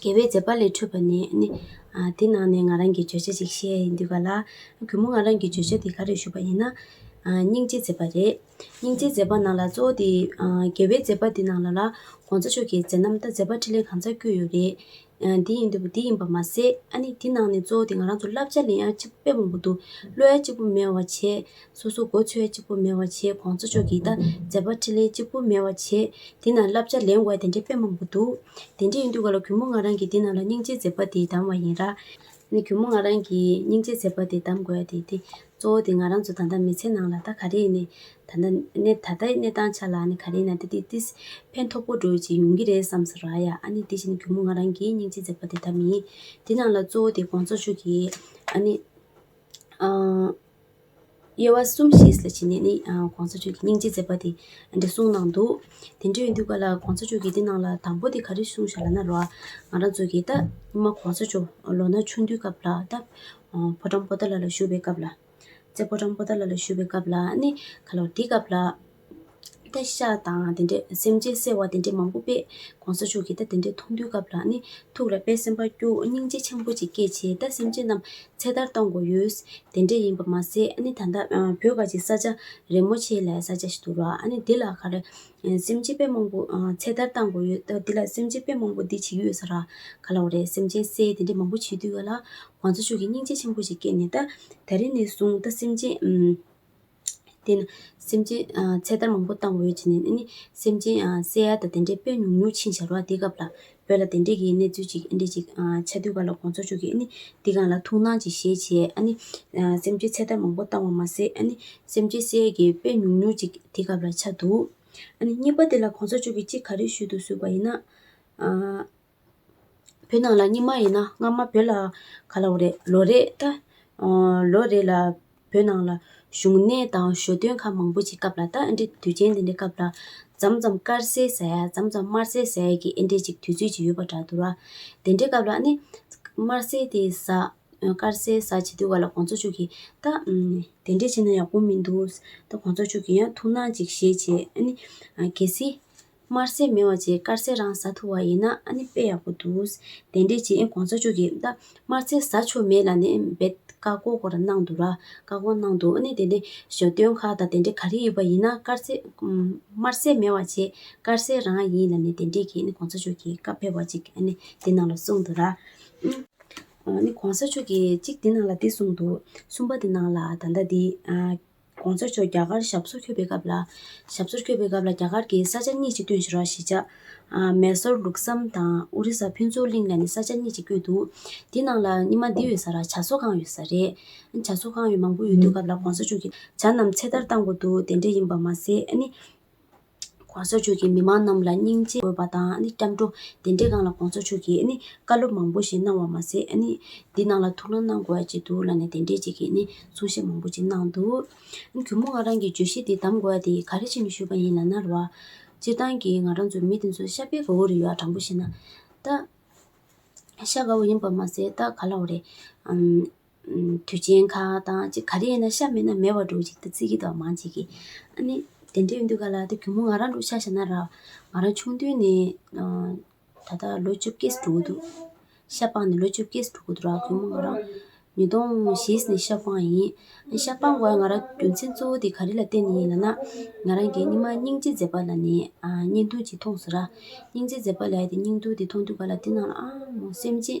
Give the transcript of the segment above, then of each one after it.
དགེ་བའི་མཛད་པ་ལས་འཕྲོས་པ་ནི། དེ་ནང་ནས་ང་རང་གིས་བརྗོད་བྱ་ཅིག་བཤད་ཡི་འདུག་ག་ལ། གུས་མོ་ང་རང་གིས་བརྗོད་བྱ་འདི་ག་རེ་ཞུ་བ་ཡིན་ན། སྙིང་རྗེའི་མཛད་པ་རེད། སྙིང་རྗེའི་མཛད་པ་ནང་ལ་གཙོ་བོ་དེ། དགེ་བའི་མཛད་པ་འདི་ནང་ལ་ལ། གོང་ས་མཆོག་གི་མཛད་རྣམ་ལྟར་མཛད་པ་ཕྲིན་ལས་གང་ཚར་བསྐྱོད་ཡོད་རེད། འདི་ཡིན་འདི་འདི་ཡིན་པ་མ་ཟད། ཨ་ནི་འདི་ནང་ནས་གཙོ་བོ་དེ་ང་རང་ཚོ་བསླབ་བྱ་ལེན་ཡ་གཅིག་པུ་དཔེ་མང་པོ་འདུག་བློ་ཡ་གཅིག་པུ་མེད་བ་བྱས། སོ་སོ་སྒོ་ཆོས་གཅིག་པུ་མེད་བར་བྱེད་གོང་ཚོ་ཆོས་ཀྱི་དང་མཛད་པ་ཕྲིན་ལས་གཅིག་པུ་མེད་བར་བྱེད་འདི་ན་བསླབ་བྱ་ལེན་བའི་དེ་འདྲའི་དཔེ་མང་པོ་འདུག་དེ་འདྲའི་ཡིན་དུས་ག་ལ་གུས་མོ་ང་རང་གིས་འདི་ན་ལ་སྙིང་རྗེའི་མཛད་པ་འདི་གདམ་བ་ཡིན་ར། ནི་གུས་མོ་ང་རང་གིས་སྙིང་རྗེའི་མཛད་པ་འདི་གདམ་དགོས་དེ་དེ་གཙོ་བོ་དེ་ང་རང་ཚོ་ད་ལྟ་མི་ཚེ་ནང་ལ་ད་ག་རེ་ནི་ད་ལྟ་གནས་ད་ལྟའི་གནས་སྟངས་ཆ་ལ་ནི་ག་རེ་ན་དེ་དེ་དེ་ཕན་ཐོག་པོ་འགྲོ་ཅིག་ཡོང་གི་རེད་བསམ་ས་ར་ཡ་ཨ་ནི་དེ་བཞིན་གུས་མོ་ང་རང་གིས་སྙིང་རྗེའི་མཛད་པ་འདི་གདམ་མིན་འདི་ནང་ལ་གཙོ་བོ་དེ་གོང་ཚོ་ཆོས་ཀྱི་ཨ་ནི། དབྱེ་བ་གསུམ་ཞེས་ལ་བྱེད་ནས་ནི ྋགོང་ས་མཆོག་གི་སྙིང་རྗེ་མཛད་པ་དེ་འདི་གསུངས་གནང་འདུག་དེ་འདྲ་ཡིན་དུས་ག་ལ ྋགོང་ས་མཆོག་གིས་འདི་གནང་ལ་དང་པོ་དེ་ག་རེ་གསུངས་ཞེས་ལ་ན་རོ་ང་རང་ཚོ་གིས་ད་ཉི་མ ྋགོང་ས་མཆོག་ལོ་ན་ཆུང་དུས་སྐབས་ལ་ད་ཕོ་བྲང་པོ་ཏཱ་ལ་ལ་བཞུགས་པའི་སྐབས་ལ་ཙེ་ཕོ་བྲང་པོ་ཏཱ་ལ་ལ་བཞུགས་པའི་སྐབས་ལ་ནི་ག་ལ་འདི་སྐབས་ལ་བཀའ་ཤག་དང་དེ་འདྲའི་སེམས་ཅན་གསལ་བ་དེ་འདྲའི་མང་པོ་པས་གོང་ས་མཆོག་གི་ད་དེ་འདྲའི་མཐོང་ཐོས་སྐབས་ལ་ནི་ཐུགས་ལ་དཔལ་སེམས་དཔའ་སྐྱོ་སྙིང་རྗེ་ཆེན་པོ་ཅིག་སྐྱེད་ཆེ་ད་སེམས་ཅན་རྣམས་ཚེ་ཐར་གཏོང་དགོས་ཡོད། དེ་འདྲས་ཡིན་པ་མ་ཟད་ནི་ད་ལྟ་བོད་ཁ་ཅིག་ས་ཆ་རིན་མོ་ཆེ་ལས་ས་ཆ་ཞིག་ཏུ་རག་ནས་འདི་ལ་ཁ་རེ་སེམས་ཅན་དཔེ་མང་པོ་ཚེ་ཐར་གཏང་དགོས་ཡོད་ད་འདི་ལ་སེམས་ཅན་དཔེ་མང་པོ་འདི་བྱེད་ཀྱི་ཡོད་ས་རག་ག་ལ་བ་རེད་སེམས་ཅན་གསལ་དེ་འདྲས་མང་པོ་བྱེད་དུས་ག་ལ། གོང་ས་མཆོག་གི་སྙིང་རྗེ་ཆེན་པོ་ཅིག་སྐྱེད་ནས་ད་ད་རིང་ནས་བཟུང་ད་སེམས་ཅན། དེས་ན་སེམས་ཅན་ཚེ་ཐར་མང་པོ་བཏང་འོས་ཅི་ནས་ཨེ་ནི། སེམས་ཅན་བསད་ཡ་དང་དེ་འདྲའི་དཔེ་ཉུང་ཉུང་ཕྱིན་བྱར་བ་འདི་སྐབས་ལ་བོད་ལ་དེ་འདྲས་ཀྱི་གནས་ཚུལ་ཅིག་ཨེ་འདྲས་ཅིག་ཆ་མཐུན་ག་ལ་དགོངས་ཚོགས་ཆོག་གི་ཨེ་ནི། འདི་གང་ལ་ཐུགས་སྣང་ཅིག་ཞེས་བྱས་ཨ་ནི། སེམས་ཅན་ཚེ་ཐར་མང་པོ་བཏང་བ་མ་ཟད་ཨ་ནི། སེམས་ཅན་བསད་ཡས་ཀྱི་དཔེ་ཉུང་ཉུང་ཅིག་འདི་སྐབས་ལ་ཆ་འདུག་ཨ་ནི། གཉིས་པ་འདི་ལ་དགོངས་ཚོགས་ཆོག་གི་གཅིག་ག་རེ་ཞུས་འདུག་ཟུར་བ་ཡིན་ན། བོད་ནང་ལ་རྙིང་མ་ཡིན་ན་སྔ་མ་བོད་ལ་ག་ལ་བོ་རེད་ལོ་རེད་ད་ལོ་རེད་ལ་བོད་ནང་ལ་བཞུགས་གནས་དང་ཞོ་སྟོན་ཁ་མང་པོ་ཞིག་སྐབས་ལ་ད་ཨ་འདྲའི་དུས་ཆེན་འདི་འདྲའི་སྐབས་ལ་འཇམ་འཇམ་དཀར་ཟས་ཟ་ཡ་འཇམ་འཇམ་དམར་ཟས་ཟ་ཡ་གི་ཨེ་འདྲས་ཅིག་དུས་ཚོད་ཅིག་ཡོད་པ་འདྲ་འདུག་ལ་དེ་འདྲའི་སྐབས་ལ་ནི་དམར་ཟས་དེ་ཟ་དཀར་ཟས་ཟ་བྱེད་དུས་བར་ལ་གོང་ཚོགས་མཆོག་གིས་ད་དེ་འདྲས་བྱས་ན་ཡག་པོ་མི་འདུག་ད་གོང་ཚོགས་མཆོག་གིས་ཡང་ཐུགས་སྣང་ཅིག་བཞེས་བྱས་ཨ་ནི་གལ་སྲིད་དམར་ཟས་མེད་བ་བཅས་དཀར་ཟས་རང་ཟ་ཐུབ་བ་ཡིན་ན་ཨ་ནི་དཔེ་ཡག་པོ་འདུག་དེ་འདྲའི་རྗེས་གོང་ཚ་ཆོག་གི་ད་དམར་ཟས་ཟ་ཆོག་མེད་ལ་ནི་འབད་བཀའ་བསྒོ་སྐོར་གནང་འདུག་ར་བཀའ་བསྒོ་གནང་འདུག་ཨ་ནི་དེ་འདྲའི་ཞོ་སྟོན་ཁག་དང་དེ་འདྲའི་ག་རེ་ཡོད་པ་ཡིན་ན་དཀར་ཟས་དམར་ཟས་མེད་བ་བཅས་དཀར་ཟས་རང་ཡིན་ལ་ནི་དེ་འདྲའི་གི་ཨ་ནི་གོང་ཚ་ཆོག་གི་བཀའ་ཕེབས་བ་ཅིག་ཨ་ནི་དེ་གནང་ལ་གསུངས་འདུག་ར། ཨ་ནི་གོང་ས་མཆོག་གི་གཅིག་དེ་གནང་ལ་དེ་གསུངས་འདུག་གསུམ་པ་དེ་གནང་ལ་ད་ལྟ་དེ། ྋགོང་ས་མཆོག་རྒྱ་གར་ཞབས་སོར་འཁྱོལ་པའི་སྐབས་ལ། ཞབས་སོར་འཁྱོལ་པའི་སྐབས་ལ་རྒྱ་གར་གྱི་ས་ཆ་གཉིས་ཅིག་བསྐྲུན་ཞེས་རོགས་ཞིག་བྱ། མེ་སོར་ལུགས་བསམ་དང་ཨོ་རི་ས་ཕུན་ཚོགས་གླིང་ལ་ནི་ས་ཆ་གཉིས་ཅིག་བསྐྱོད་འདུག་དེ་ནང་ལ་ཉི་མ་འདི་ཡོད་ས་ར་བྱ་གསོ་ཁང་ཡོད་ས་རེད། བྱ་གསོ་ཁང་ཡོད་མང་པོ་ཡོད་དུས་སྐབས་ལ ྋགོང་ས་མཆོག་གིས་བྱ་རྣམས་ཚེ་ཐར་བཏང་དགོས་འདུག་དེ་འདྲ་ཡིན་པ་མ་ཟད་ནི། ྋགོང་ས་མཆོག་གིས་མི་མང་རྣམས་ལ་སྙིང་རྗེ་དགོས་པ་དང་སྐྱབས་འགྲོ་དེ་འདྲའི་སྒང་ལ ྋགོང་ས་མཆོག་གིས་བཀའ་སློབ་མང་པོ་ཞིག་གནང་བ་མ་ཟད་འདི་ནང་ལ་ཐུགས་སྣང་གནང་དགོས་ཅིག་འདུག་ལ་ནས་དེ་འདྲའི་ཅིག་གིས་གསུང་བཤད་མང་པོ་ཅིག་གནང་འདུག་གུས་མོ་ང་རང་གིས་བརྗོད་གཞི་འདི་གདམ་དགོས་ཏེ་ག་རེ་བྱས་ནས་ཞུས་པ་ཡིན་ལ་ན་རོ། སྤྱིར་བཏང་གི་ང་རང་ཚོ་མི་དེ་ཚོ་ཤ་པའི་ག་འུ་རེ་ཡོད་ཨ་དྲང་པོ་ཤེས་ན། ད་ཤ་ག་འུ་ཡིན་པ་མ་ཟད་ད་ག་ལ་འུ་རེད། དུས་ཆེན་ཁག་དང་ཅིག་ག་རེ་ཡིན་ན་ཤ་མེད་ན་མེད་བ་འགྲོ་ཅིག་ད་ཙི་གི་དོག་མང་བྱེད་ཀི་ཨ་ནི་དེ་འདྲ་ཡོད་འདུག་ག་ལ་དེ་གུས་མོ་ང་རང་འགྲོ་ཤག་བྱ་ན་རག་ང་རང་ཆུང་དུས་ནས་ད་ལྟ་ལོ་བཅོ་བརྒྱད་ཟིག་འགྲོ་གི་འདུག་ཤ་སྤངས་ནས་ལོ་བཅོ་བརྒྱད་ཟིག་འགྲོ་གི་འདུག་ར་གུས་མོ་ང་རང་ཉིས་སྟོང་བཞི་ནས་ཤ་སྤངས་ཡིན་ཨ་ཤ་སྤངས་དགོས་ང་རང་རྒྱུ་མཚན་གཙོ་བོ་དེ་ག་རེ་ལ་བརྟེན་ནས་ཡིན་ལ་ན་ང་རང་གི་སྙིང་མ་སྙིང་རྗེ་མཛེས་པ་ལ་ནི་བརྙན་ཐུང་ཅིག་མཐོང་ཟེར་ར་སྙིང་རྗེ་མཛེས་པ་ལའི་དེ་སྙིང་ཐུང་དེ་མཐོང་དུས་ག་ལ་དེ་ནང་ལ་ཨ་མོ་སེམས་ཅན་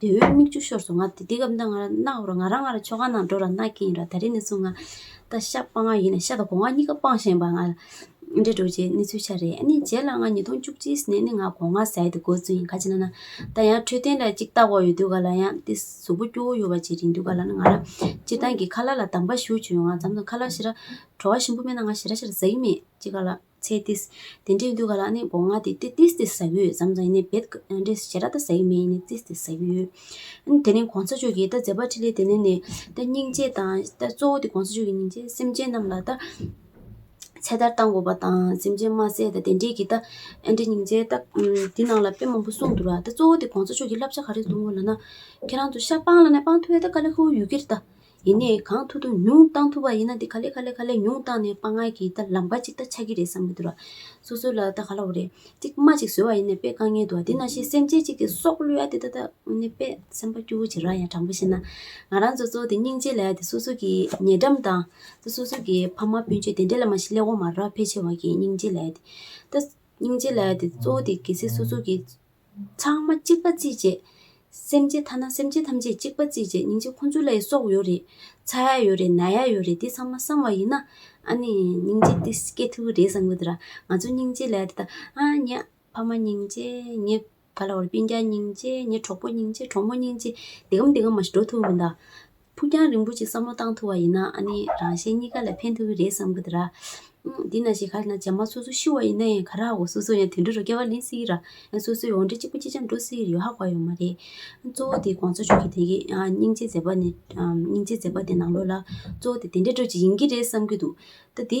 དེ་འོད་མིག་ཆུ་ཤོར་སོང་ང་དེ་སྐབས་ང་རང་ང་རང་ངར་ཆོ་ག་ནང་འགྲོ་ར་ནག་གིན་ཡིན་ར་ད་རིང་ནས་བཟུང་ང་ད་ཤ་སྤང་ཡིན་ནས་ཤ་དང་གོང་ང་གཉིས་ཀ་སྤང་བཞིན་པ་ང་འདྲེ་འགྲོ་རྗེས་གནས་ཚུལ་ཤ་རེད་ཨ་ནི་རྗེས་ལ་ང་ཉིས་སྟོང་བཅུ་གཅིག་ནས་ནི་ང་གོང་ང་ཟས་དེ་དགོས་ཚུལ་ཡིན་ག་ཅི་ན་ན་ད་ཡང་འཕྲོད་བསྟེན་ལ་ཅིག་བལྟ་བ་ཡོད་དུས་ག་ལ་ཡང་དེ་གཟུགས་པོ་སྐྱོ་བོ་ཡོད་པ་ཅིག་རིང་དུས་ག་ལ་ན་ང་རང་སྤྱིར་བཏང་གི་ཁ་ལ་ལ་དམ་པ་ཞུ་བྱོས་ཡོང་ང་འཛམ་དང་ཁ་ལ་ཤི་ར་བྲོ་བ་ཞིམ་པོ་མེད་ན་ང་ཤི་ར་ཤི་ར་ཟ་གི་མེད་ཅིག་ག་ལ། ཚེ་ཏིས། དེ་འདྲའི་འདུལ་བ་ལ་ནི་སྒོ་ང་སྟེ་ཏི་ཏིས་ཏི་ཟ་གུའི་ཟམ་ཙམ་ཡིན་ནས་བེད། འདྲེ་ཞེ་ར་ད་ཟ་ཡི་མེ་ཡིན་ནས་ཙིས་ཏི་ཟ་གུ་ཡོད། དེ་ནས་གོང་ས་མཆོག་གིས་ད་ཛེ་བ་ཏྲི་ལའི་དེ་ནས་ནི། ད་སྙིང་རྗེ་དང། ད་གཙོ་བོ་དེ་གོང་ས་མཆོག་གི་སྙིང་རྗེ་སེམས་ཅན་རྣམས་ལ་ད། ཚེ་ཐར་བཏང་དགོས་པ་དང་སེམས་ཅན་དམར་ཟས་དང་དེ་འདྲས་ཀྱིས་ད། འདྲེ་སྙིང་རྗེ་ད། དེ་ནང་ལ་དཔེ་མང་པོ་གསུངས་འདུག་ལ་ད་གཙོ་བོ་དེ་གོང་ས་མཆོག་གིས་བསླབ་བྱ་ག་རེ་གསུང་ངོ་ལ་ན། ཁྱེད་རང་ཚོ་ཤ་སྤང་ལ་ནས་སྤང་ཐུབ་ཡོད་ད་ཀ་ལེ་ཧུའུ་ཡུལ་གྱིར་ད། ཡིན་ནས་གང་ཐུབ་ཐུབ་ཉུང་གཏང་ཐུབ་པ་ཡིན་ན་དེ་ག་ལེ་ག་ལེ་ག་ལེ་ཉུང་གཏང་ནས་དཔའ་ངར་གྱིས་ད་ལམ་ཁ་ཅིག་ད་ཆགས་ཀྱི་རེད་བསམ་གྱི་འདུག་ལ། སོ་སོ་ལ་ད་ག་ལ་བ་རེད་ཅིག་རྨ་ཅིག་བཟོས་བ་ཡིན་ནས་དཔེ་བཀག་ཉེན་འདུག་ཨ་དེ་ན་ཤེས་སེམས་ཅན་ཅིག་གི་སྲོག་བླུ་ཡ་དེ་ད་ད་ཨོ་ནི་དཔེ་སེམས་པ་སྐྱུ་བོ་བྱེད་ར་ཡ་དྲང་པོ་བཤད་ན། ང་རང་ཚོ་ཚོ་དེ་སྙིང་རྗེ་ལ་ཡ་དེ་སོ་སོ་གྱི་ཉེ་འགྲམ་དང། ད་སོ་སོ་གྱི་ཕ་མ་སྤུན་མཆེད་དེ་འདྲ་ལ་མ་ཤི་ལེ་འོ་མ་ར་ཕལ་ཆེ་བ་གྱི་སྙིང་རྗེ་ལ་ཡ་དེ། ད། སྙིང་རྗེ་ལ་ཡ་དེ་གཙོ་བོ་དེ་གལ་སྲིད་སོ་སོ་གྱི། ཚང་མ་གཅིག་པ་རྩིས་བྱེད། སེམས་ཅན་ཐ་ན་སེམས་ཅན་ཐམས་ཅད་གཅིག་པ་རྩིས་བྱེད་སྙིང་རྗེ་ཁོང་ཚོ་ལ་ཡི་སོགས་ཡོད་རེད། ཚ་ཡ་ཡོད་རེད་ན་ཡ་ཡོད་རེད་འདི་ཚང་མ་བསམ་བ་ཡིན་ན། ཨ་ནི། སྙིང་རྗེ་འདི་སྐྱེ་ཐུ་རེད་བསམ་གི་འདུག་ར། ང་ཚོ་སྙིང་རྗེ་ལས་དེ་དང་ཨ་ཉ། ཕ་མ་སྙིང་རྗེ། ཉེ་ག་ལ་བར་སྤིན་རྒྱ་སྙིང་རྗེ། ཉེ་གྲོགས་པོ་སྙིང་རྗེ་གྲོགས་མོ་སྙིང་རྗེ། འདི་གམ་འདི་གམ་མ་ཤི་འགྲོ་ཐུ་མི་འདའ། ཕུགས་རྒྱང་རིང་པོ་ཅིག་བསམ་བློ་བཏང་ཐུབ་པ་ཡིན་ན་ནི་རང་གཞན་གཉིས་ཀ་ལ་ཕན་ཐོགས་ཀྱི་རེད་བསམ་གི་འདུག་ར། དེས་ན་ཞེ་ཁ་ལ་ན་ཇག་མ་སོ་སོ་ཤི་བ་ཡིན་ན་ཡང་ག་ར་འོ་སོ་སོ་ཡང་དུད་འགྲོ་རུ་སྐྱེ་བ་ལེན་སྲིད་ཀྱི་ར། ཡང་སོ་སོའི་འོ་འདྲེ་གཅིག་པོ་གཅིག་ཅར་འགྲོ་སྲིད་ཀྱི་ཡོད་ཧ་གོ་ཡོད་མ་རེད། གཙོ་བོ་དེ་དགོངས་ཚོགས་ཆོག་གི་དེ་གའི་སྙིང་རྗེ་མཛད་པ་ནས་སྙིང་རྗེ་མཛད་པ་དེ་ནང་ལོགས་ལ་གཙོ་བོ་དེ་དེ་འདྲས་འགྲོ་ཅིག་ཡིན་གྱི་རེད་བསམ་གྱི་འདུག་ད་དེ།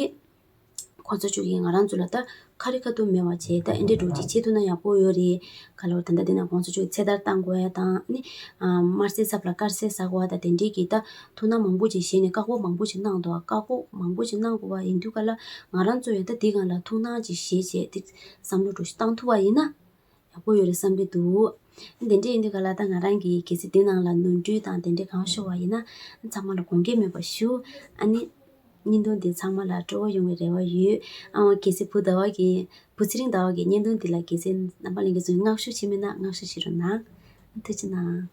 ཁོ་ཚོ་ཅུག་གིས་ང་རང་ཚོ་ལ་ད་ཁ་རི་ཁ་ཐུག་མེད་བ་བྱས་ད་ཨེ་འདྲས་འགྲོ་ཅིག་བྱེད་ཐུག་ན་ཡག་པོ་ཡོད་རེད་ག་ལོར་ད་ལྟ་དེ་ན་ཁོང་ཚོ་ཅུག་གིས་ཚེ་ཐར་བཏང་དགོས་ཡ་དང་ནི་དམར་སེར་ཚབ་ལ་དཀར་སེར་ཟ་དགོས་བ་དང་དེ་འདྲས་ཀྱིས་ད་ཐུག་ན་མང་པོ་ཅིག་བྱས་ནས་བཀག་འགོག་མང་པོ་ཅིག་གནང་འདུག་བཀག་འགོག་མང་པོ་ཅིག་གནང་དགོས་བ་ཡིན་དུས་ག་ལ་ང་རང་ཚོ་ཡང་ད་འདི་གང་ལ་ཐུག་སྣང་ཅིག་བྱེད་བྱས་ཏེ་བསམ་བློ་བྲོ་བཞིན་བཏང་ཐུབ་བ་ཡིན་ན། ཡག་པོ་ཡོད་རེད་བསམ་གྱི་འདུག་དེ་འདྲས་ཡིན་དུས་ག་ལ་ད་ང་རང་གིས་གལ་སྲིད་དེ་ནང་ལ་ནོར་འཁྲུལ་དང་དེ་འདྲས་གང་ཤོར་བ་ཡིན་ན་ཚང་མ་ལ་དགོངས་སྐྱེལ་མེད་པ་ཞུ། ཨ་ནི། བརྙན་ཐུང་འདི་ཚང་མ་ལ་སྤྲོ་བོ་ཡོང་བའི་རེ་བ་ཡོད། ཨང་ཨང་གལ་སྲིད་བུ་ཟླ་བ་གིས། བུ་ཚེ་རིང་ཟླ་བ་གིས་བརྙན་ཐུང་འདི་ལ་གལ་སྲིད་རྣམ་པ་གླེང་གི་བཟོས་མིན་བསྔགས་བཤུ་བྱེད་མིན་ན་བསྔགས་བཤུ་བྱེད་རོགས་གནང། ཐུགས་ཆེ་གནང།